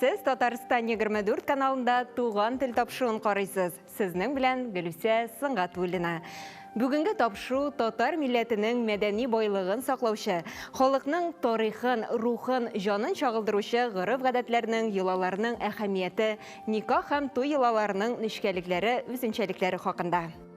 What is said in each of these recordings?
Сез Татарстан 24 каналында туган тел тапшуын карыйсыз. Сезнең белән Гөлүсә Сынгатуллина. Бүгенге тапшу татар милләтенең мәдәни байлыгын саклаучы, халыкның тарихын, рухын, җанын чагылдыручы гореф-гадәтләрнең, йолаларның әһәмияте, никах һәм туй йолаларының нечкәлекләре, үзенчәлекләре хакында.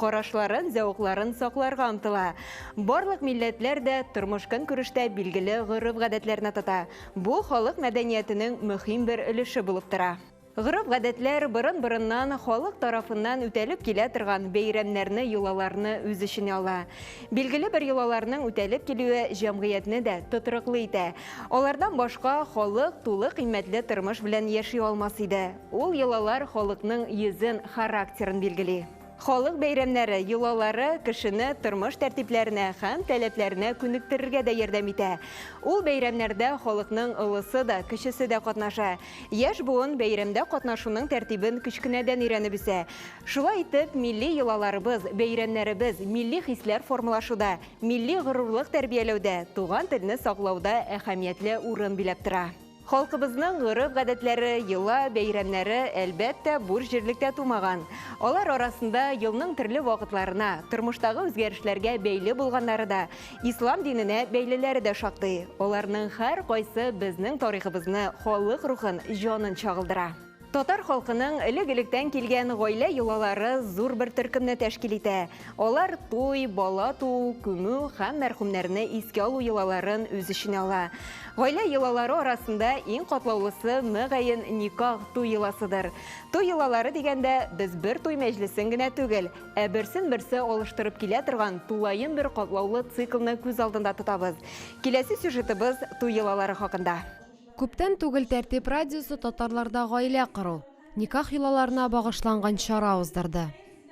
карашларын, зәвыкларын сакларга омтыла. Барлык милләтләр дә тормыш-көнкүрештә билгеле гореф-гадәтләрне тота. Бу халык мәдәниятенең мөһим бер өлеше булып тора. Гореф-гадәтләр борын-борыннан халык тарафыннан үтәлеп килә торган бәйрәмнәрне, йолаларны үз эченә ала. Билгеле бер йолаларның үтәлеп килүе җәмгыятьне дә тотрыклы итә. Алардан башка халык тулы кыйммәтле тормыш белән яши алмас иде. Ул йолалар халыкның йөзен, характерын билгели. Халык бәйрәмнәре, йолалары кешене тормыш тәртипләренә һәм таләпләренә күнектерергә дә ярдәм итә. Ул бәйрәмнәрдә халыкның олысы да, кечесе дә катнаша. Яшь буын бәйрәмдә катнашуның тәртибен кечкенәдән өйрәнеп үсә. Шулай итеп, милли йолаларыбыз, бәйрәмнәребез милли хисләр формалашуда, милли горурлык тәрбияләүдә, туган телне саклауда әһәмиятле урын биләп тора. Халкыбызның гореф-гадәтләре, йола, бәйрәмнәре, әлбәттә, буш җирлектә тумаган. Алар арасында елның төрле вакытларына, тормыштагы үзгәрешләргә бәйле булганнары да, ислам диненә бәйлеләре дә шактый. Аларның һәркайсы безнең тарихыбызны, халык рухын, җанын чагылдыра. Татар халкының элек-электән килгән гаилә йолалары зур бер төркемне тәшкил итә. Алар туй, бала туу, күмү һәм мәрхүмнәрне искә алу йолаларын үз эченә ала. Гаилә йолалары арасында иң катлаулысы, мөгаен, никах, туй йоласыдыр. Туй йолалары дигәндә, без бер туй мәҗлесен генә түгел, ә берсен-берсе алыштырып килә торган тулаем бер катлаулы циклны күз алдында тотабыз. Киләсе сюжетыбыз туй йолалары хакында. Күптән түгел Тәртип радиосы татарларда гаилә кору, никах йолаларына багышланган чара уздырды.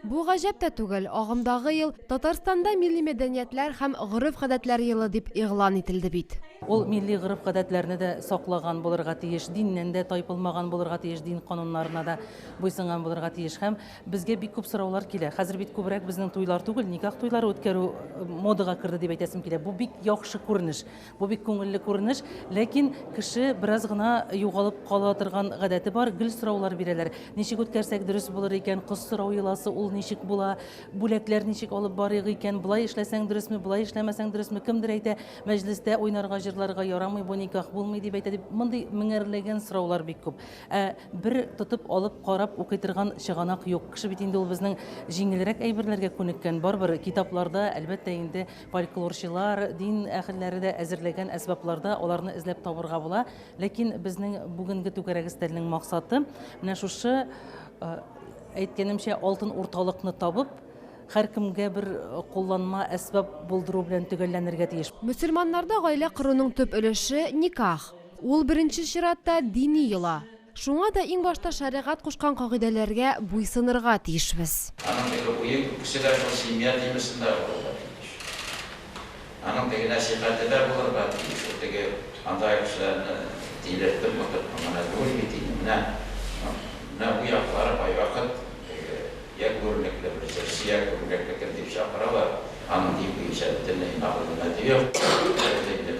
Бу гаҗәп тә түгел, агымдагы ел Татарстанда милли мәдәниятләр һәм гореф-гадәтләр елы дип игълан ителде бит. Ул милли гореф-гадәтләрне дә саклаган булырга тиеш, диннән дә тайпылмаган булырга тиеш, дин кануннарына да буйсынган булырга тиеш. Һәм безгә бик күп сораулар килә. Хәзер бит күбрәк безнең туйлар түгел, никах туйлары үткәрү модага керде дип әйтәсем килә. Бу бик яхшы күренеш. Бу бик күңелле күренеш, ләкин кеше бераз гына югалып кала торган гадәте бар, гел сораулар бирәләр. Ничек үткәрсәк дөрес булыр икән, кыз сорау йоласы ул ничек була, бүләкләр ничек алып барыйк икән, болай эшләсәң дөресме, болай эшләмәсәң дөресме, кемдер әйтә, мәҗлестә уйнарга, җырларга ярамый, бу никах булмый дип әйтә, дип мондый меңәрләгән сораулар бик күп. Ә бер тотып алып карап укый торган чыганак юк. Кеше бит инде ул безнең җиңелрәк әйберләргә күнеккән, барыбер китапларда, әлбәттә инде, Фольклорчылар, дин әһелләре дә әзерләгән әсбапларда аларны эзләп табырга була. Ләкин безнең бүгенге түгәрәк өстәлнең максаты менә шушы э, әйткәнемчә алтын урталыкны табып, һәркемгә бер кулланма әсбап булдыру белән төгәлләнергә тиеш. Мөселманнарда гаилә коруның төп өлеше, никах. Ул беренче чиратта дини йола. Шуңа да иң башта шәригать кушкан кагыйдәләргә буйсынырга тиешбез. Аның теге уе күбесе дә шул семья темасында булырга тиеш. Аның теге нәсыйхәте дә булырга тиеш. Ул теге анда кешеләрне тилертеп утырып, моңа менә түгел бит инде, менә, менә бу яклары кайвакыт теге йә күренекле бер җырчы, йә күренекле кем дип чакыралар, аның дин буенча бөтенләй мәгълүматы юк,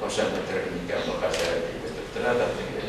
кайчан бетерер микән бу хәсарәт дип көтеп тора да теге.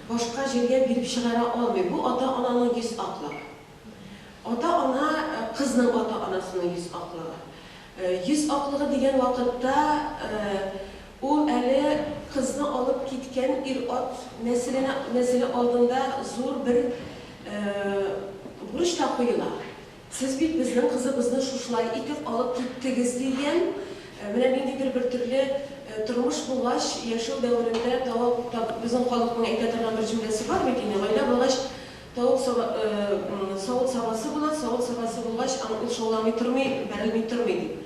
башка җиргә биреп чыгара алмый. Бу ата-ананың йөз аклыгы. Ата-ана, кызның ата-анасының йөз аклыгы. Йөз аклыгы дигән вакытта, ул әле кызны алып киткән ир-ат нәселенә, нәселе алдында зур бер бурыч та куела. Сез бит безнең кызыбызны шушылай итеп алып киттегез, дигән. Менә ниндидер бер төрле тормыш булгач, яшәү дәверендә тавык, таб, безнең халыкның әйтә торган бер җөмләсе бар бит инде, гаилә булгач, тавык саба, савыт сабасы була, савыт сабасы булгач, ан, ул шауламый тормый, бәрелми тормый, дип.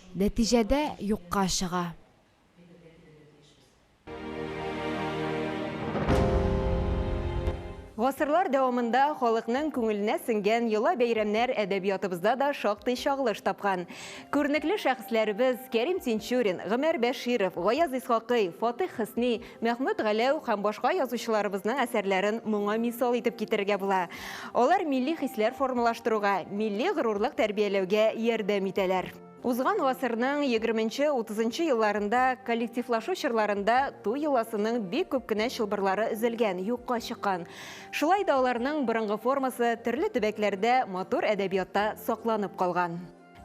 Нәтиҗәдә юкка чыга. Гасырлар дәвамында халыкның күңеленә сеңгән йола-бәйрәмнәр әдәбиятыбызда да шактый чагылыш тапкан. Күренекле шәхесләребез Кәрим Тинчурин, Гомәр Бәширов, Гаяз Исхакый, Фатыйх Хөсни, Мәхмүт Галәү һәм башка язучыларыбызның әсәрләрен моңа мисал итеп китерергә була. Алар милли хисләр формалаштыруга, милли горурлык тәрбияләүгә ярдәм итәләр. Узган гасырның егерменче, утызынчы елларында коллективлашу чорларында туй йоласының бик күп кенә чылбырлары өзелгән, юкка чыккан. Шулай да аларның борынгы формасы төрле төбәкләрдә матур әдәбиятта сакланып калган.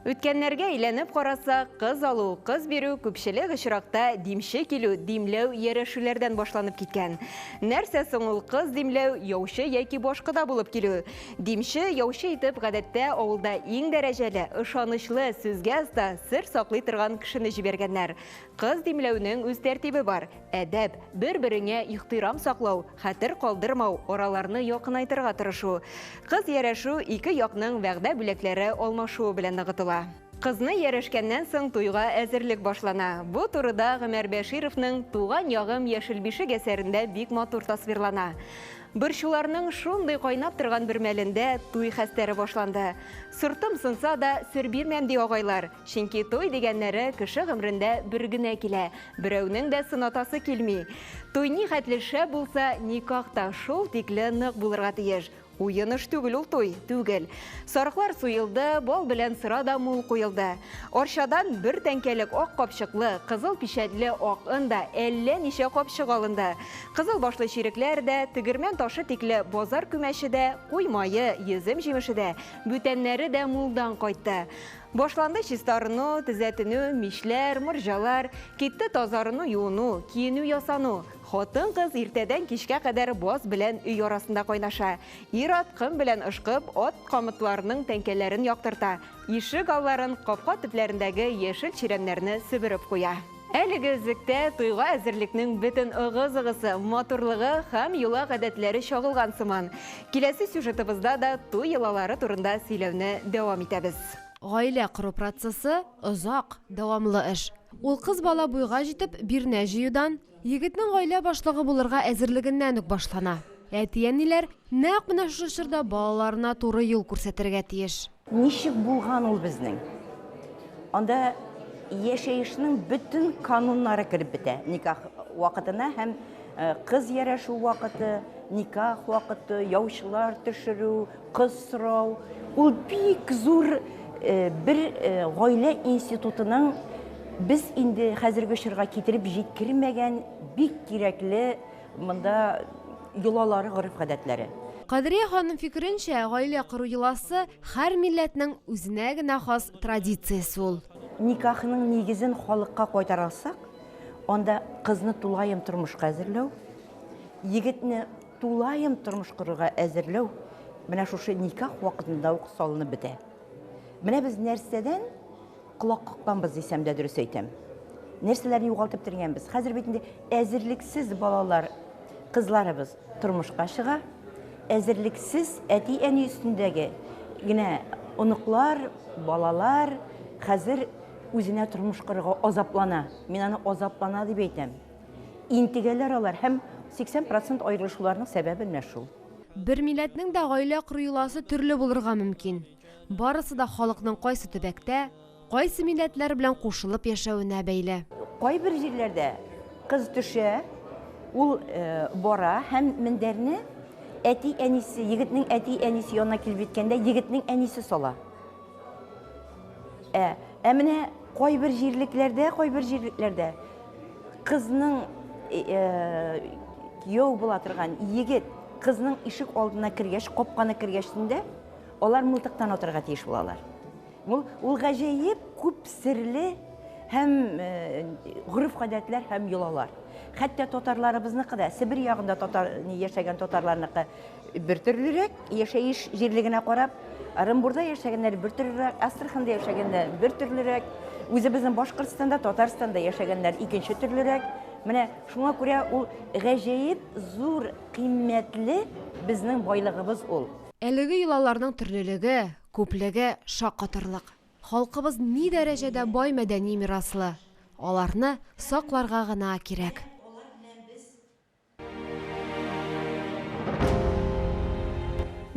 Үткәннәргә әйләнеп карасак, кыз алу, кыз бирү күпчелек очракта димче килү, димләү, иярәшүләрдән башланып киткән. Нәрсә соң ул кыз димләү, яучы яки башкода булып килү? Димче, яучы итеп, гадәттә, авылда иң дәрәҗәле, ышанычлы, сүзгә оста, сер саклый торган кешене җибәргәннәр. Кыз димләүнең үз тәртибе бар, әдәп, бер-береңә ихтирам саклау, Хәтер калдырмау, араларны якынайтырга тырышу. Кыз ярәшү ике якның вәгъдә бүләкләре алмашуы белән ныгытыла. Кызны ярәшкәннән соң туйга әзерлек башлана. Бу турыда Гомәр Бәшировның Туган ягым, яшел бишек әсәрендә бик матур тасвирлана. Борчуларның шундый кайнап торган бер мәлендә туй хәстәре башланды. Сортым сынса да, сер бирмәм, ди агайлар. Чөнки туй дигәннәре кеше гомрендә бер генә килә, берәүнең дә сынатасы килми. Туй ни хәтле шәп булса, никах та шул тикле нык булырга тиеш. Уен эш түгел ул туй, түгел. Сарыклар суелды, бал белән сыра да мул куелды. Арчадан бер тәңкәлек ак капчыклы, кызыл пичәтле ак он да, әллә ничә капчык алынды. Кызыл башлы чирекләр дә, тегермән ташы тикле базар күмәче дә, куй мае, йөзем җимеше дә, бүтәннәре дә мулдан кайтты. Башланды чистарыну, төзәтенү, мичләр, морҗалар, китте тазарыну, юыну, киенү ясану. Хатын-кыз иртәдән кичкә кадәр баз белән өй арасында кайнаша. Ир-ат ком белән ышкып, ат камытларының тәңкәләрен яктырта, ишек алларын, капка төпләрендәге яшел чирәмнәрне себереп куя. Әлеге эзлектә туйга әзерлекнең бөтен ыгы-зыгысы, матурлыгы һәм йола гадәтләре чагылган сыман. Киләсе сюжетыбызда да туй йолалары турында сөйләүне дәвам итәбез. Гаилә кору процессы, озак, дәвамлы эш. Ул кыз бала буйга җитеп, бирнә җыюдан, егетнең гаилә башлыгы булырга әзерлегеннән үк башлана. Әти-әниләр нәкъ менә шушы чорда балаларына туры юл күрсәтергә тиеш. Ничек булган ул безнең? Анда яшәешнең бөтен кануннары кереп бетә. Никах вакытына һәм э, кыз ярәшү вакыты, никах вакыты, яучылар төшерү, кыз сорау. Ул бик зур э, бер э, гаилә институтының без инде хәзерге чорга китереп җиткермәгән бик кирәкле Монда йолалары, гореф-гадәтләре. Кадрия ханым фикеренчә, гаилә кору йоласы, һәр милләтнең үзенә генә хас традициясе ул. Никахның нигезен халыкка кайтара алсак, анда кызны тулаем тормышка әзерләү, егетне тулаем тормыш корырга әзерләү менә шушы никах вакытында ук салынып бетә. Менә без нәрсәдән Колак какканбыз, дисәм дә дөрес әйтәм. Нәрсәләрне югалтып тергәнбез. Хәзер бит инде әзерлексез балалар, кызларыбыз тормышка чыга. Әзерлексез әти-әни өстендәге генә оныклар, балалар хәзер үзенә тормыш корырга азаплана. Мин аны азаплана дип әйтәм. Интегәләр алар һәм 80 процент аерылышуларның сәбәбе менә шул. Бер милләтнең дә гаилә кору йоласы төрле булырга мөмкин. Барысы да халыкның кайсы төбәктә, кайсы милләтләр белән кушылып яшәвенә бәйле. Кайбер җирләрдә кыз төшә, ул бара һәм мендәрне әти-әнисе, егетнең әти-әнисе янына килеп җиткәндә, егетнең әнисе сала. Ә, ә менә кайбер җирлекләрдә, кайбер җирлекләрдә кызның кияү була торган егет кызның ишек алдына кергәч, капканы кергәчтендә, Алар мылтыктан атарга тиеш булалар. Ул, ул гаҗәеп күп серле һәм э, гореф-гадәтләр һәм йолалар. Хәтта татарларыбызныкы да, Себер ягында татар яшәгән татарларныкы бер төрлерәк, яшәеш җирлегенә карап, Оренбурда яшәгәннәр бер төрлерәк, Астраханда яшәгәннәр бер төрлерәк, үзебезнең Башкортстанда, Татарстанда яшәгәннәр икенче төрлерәк. Менә шуңа күрә ул гаҗәеп зур кыйммәтле безнең байлыгыбыз ул. Әлеге йолаларның төрлелеге, күплеге шаккатырлык. Халкыбыз ни дәрәҗәдә бай мәдәни мираслы, аларны сакларга гына кирәк.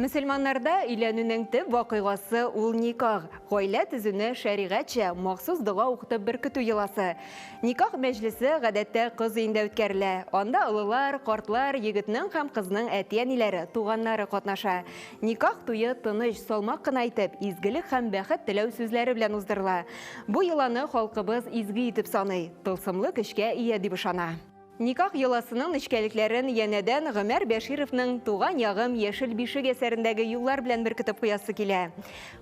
Мөселманнарда өйләнүнең төп вакыйгасы ул никах, гаилә төзүне шәригатьчә, махсус дога укытып беркетү йоласы. Никах мәҗлесе гадәттә кыз өендә үткәрелә. Анда олылар, картлар, егетнең һәм кызның әти-әниләре, туганнары катнаша. Никах туе тыныч, салмак кына итеп, изгелек һәм бәхет теләү сүзләре белән уздырыла. Бу йоланы халкыбыз изге итеп саный, тылсымлы көчкә ия дип ышана. Никах йоласының нечкәлекләрен янәдән Гомәр Бәшировның Туган ягым, яшел бишек әсәрендәге юллар белән беркетеп куясы килә.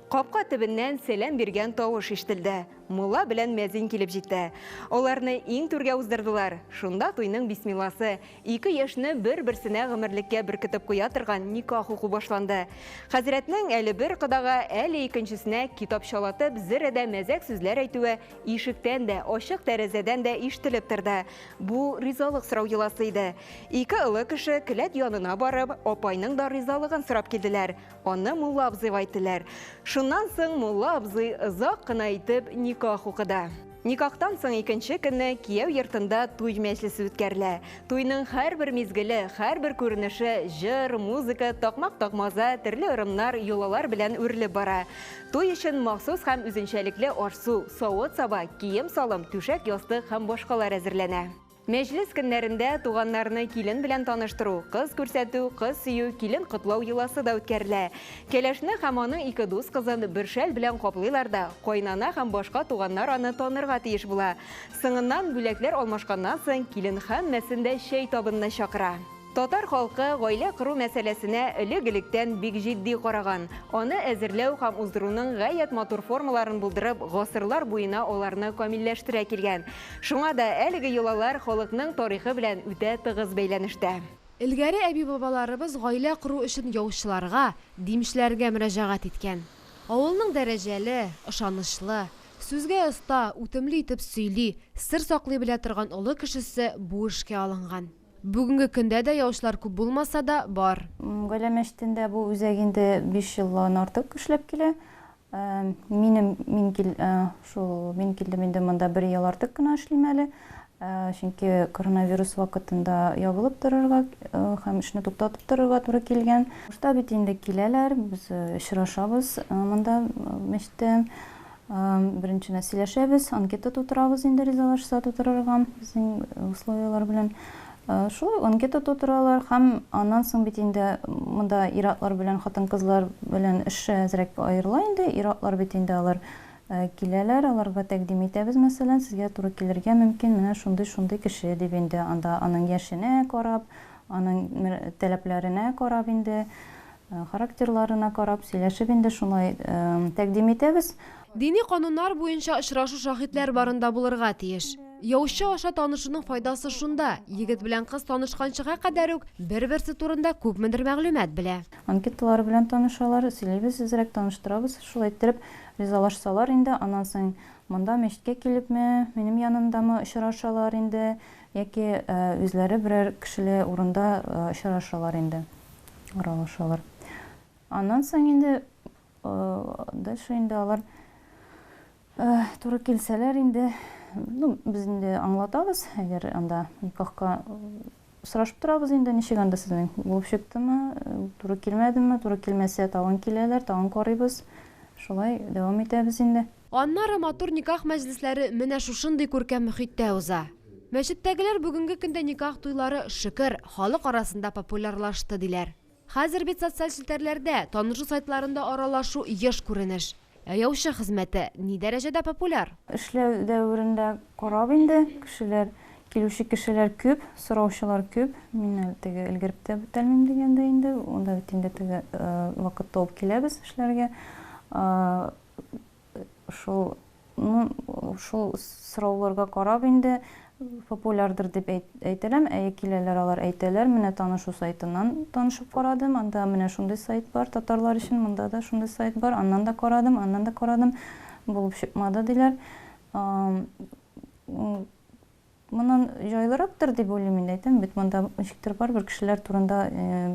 Капка төбеннән сәлам биргән тавыш ишетелде. Мулла белән мәзин килеп җитте. Аларны иң түргә уздырдылар. Шунда туйның бисмилласы, ике яшьне бер-берсенә гомерлеккә беркетеп куя торган никах уку башланды. Хәзрәтнең әле бер кодага, әле икенчесенә китапчалатып, зерә дә мәзәк сүзләр әйтүе Ишектән дә, ачык тәрәзәдән дә ишетелеп торды. Бу ризалык сорау йоласы иде. Ике олы кеше келәт янына барып, апайның да ризалыгын сорап килделәр. Аны мулла абзыйга әйттеләр. Шуннан соң мулла абзый озак кына итеп никах укыды. Никахтан соң икенче көнне кияү йортында туй мәҗлесе үткәрелә. Туйның һәрбер мизгеле, һәрбер күренеше җыр, музыка, такмак-такмаза, төрле ырымнар, йолалар белән үрелеп бара. Туй өчен махсус һәм үзенчәлекле аш-су, савыт-саба, кием-салым, түшәк-ястык һәм башкалар әзерләнә. Мәҗлес көннәрендә туганнарны килен белән таныштыру, кыз күрсәтү, кыз сөю, килен котлау йоласы да үткәрелә. Кәләшне һәм аның ике дус кызын бер шәл белән каплыйлар да, кайнана һәм башка туганнар аны танырга тиеш була. Соңыннан, бүләкләр алмашканнан соң, килен һәммәсен дә чәй табынына чакыра. Татар халкы гаилә кору мәсьәләсенә элек-электән бик җитди караган. Аны әзерләү һәм уздыруның гаять матур формаларын булдырып, гасырлар буена аларны камилләштерә килгән. Шуңа да әлеге йолалар халыкның тарихы белән үтә тыгыз бәйләнештә. Элгәре әби-бабаларыбыз гаилә кору өчен яучыларга, димчеләргә мөрәҗәгать иткән. Авылның дәрәҗәле, ышанычлы, сүзгә оста, үтемле итеп сөйли, сер саклый белә торган олы кешесе бу эшкә алынган. Бүгенге көндә дә яучылар күп булмаса да, бар. Гаилә мәчетендә бу үзәк инде биш елдан артык эшләп килә. Минем, мин кил, шул, мин килдем инде монда бер ел артык кына эшлим әле. Чөнки коронавирус вакытында ябылып торырга һәм эшне туктатып торырга туры килгән. Башта бит инде киләләр, без очрашабыз монда мәчеттә. Беренчедән сөйләшәбез, анкета тутырабыз инде ризалашса тутырырга безнең условияләр белән. Шулай анкета тутыралар һәм аннан соң бит инде монда ир-атлар белән хатын-кызлар белән эш әзрәк аерыла инде. Ир-атлар бит инде алар киләләр, аларга тәкъдим итәбез, мәсәлән, сезгә туры килергә мөмкин менә шундый-шундый кеше дип инде анда аның яшенә карап, аның таләпләренә карап инде Характерларына карап, сөйләшеп инде шулай тәкъдим итәбез. Дини кануннар буенча очрашу шаһитләр барында булырга тиеш. Яучы аша танышуның файдасы шунда, егет белән кыз танышканчыга кадәр үк бер-берсе турында күпмедер мәгълүмат белә. Анкеталар белән танышалар, сөйлибез әзрәк, таныштырабыз. Шулай иттереп, ризалашсалар инде, аннан соң монда, мәчеткә килепме, минем янымдамы очрашалар инде. Яки үзләре берәр кешеле урында очрашалар инде, аралашалар. Аннан соң инде, дальше инде алар туры килсәләр инде, ну, без инде аңлатабыз, әгәр анда никахка сорашып торабыз инде, ничек анда сезнең булып чыктымы, туры килмәдеме, туры килмәсә, тагын киләләр, тагын карыйбыз. Шулай дәвам итәбез инде. Аннары матур никах мәҗлесләре менә шушындый күркәм мөхиттә уза. Мәчеттәгеләр бүгенге көндә никах туйлары, шөкер, халык арасында популярлашты, диләр. Хәзер бит социаль челтәрләрдә, танышу сайтларында аралашу еш күренеш. Ә яучы хезмәте ни дәрәҗәдә популяр? Эшләү дәверендә карап инде, кешеләр, килүче кешеләр күп, сораучылар күп. Мин әле теге өлгереп тә бетәлмим дигәндәй инде, анда бит инде теге вакытта ук киләбез эшләргә. шул шул сорауларга карап инде популярдыр дип әйтәләм, әйе киләләр алар әйтәләр, менә танышу сайтыннан танышып карадым, анда менә шундый сайт бар, татарлар өчен монда да шундый сайт бар, аннан да карадым, аннан да карадым, булып чыкмады диләр. Моннан җайлырактыр дип уйлыйм инде, әйтәм бит, монда ничектер барыбер кешеләр турында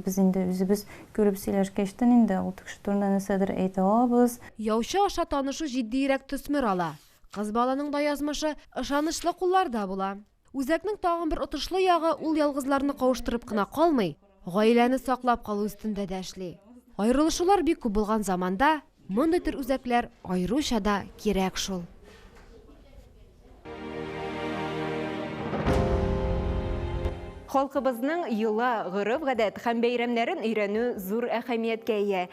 без инде үзебез күреп сөйләшкәчтен инде ул кеше турында нәрсәдер әйтә алабыз. Яучы аша танышу җитдиерәк төсмер ала. Кыз баланың да язмышы ышанычлы кулларда була. Үзәкнең тагын бер отышлы ягы, ул ялгызларны кавыштырып кына калмый, гаиләне саклап калу өстендә дә эшли. Аерылышулар бик күп булган заманда Мондый төр үзәкләр аеруча да кирәк шул. Халкыбызның йола, гореф-гадәт һәм бәйрәмнәрен өйрәнү зур әһәмияткә ия.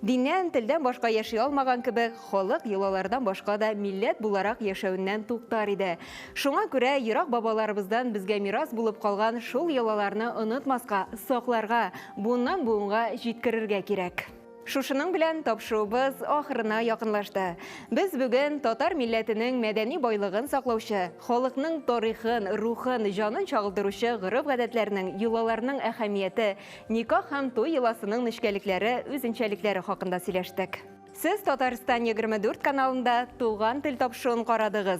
Диннән, телдән башка яши алмаган кебек, халык йолалардан башка да милләт буларак яшәүеннән туктар иде. Шуңа күрә ерак бабаларыбыздан безгә мирас булып калган шул йолаларны онытмаска, сакларга, буыннан-буынга җиткерергә кирәк. Шушының белән тапшыруыбыз ахырына якынлашты. Без бүген татар милләтенең мәдәни байлыгын саклаучы, халыкның тарихын, рухын, җанын чагылдыручы гореф-гадәтләрнең, йолаларның әһәмияте, никах һәм туй йоласының нечкәлекләре, үзенчәлекләре хакында сөйләштек. Сез Татарстан егерме дүрт каналында Туган тел тапшыруын карадыгыз.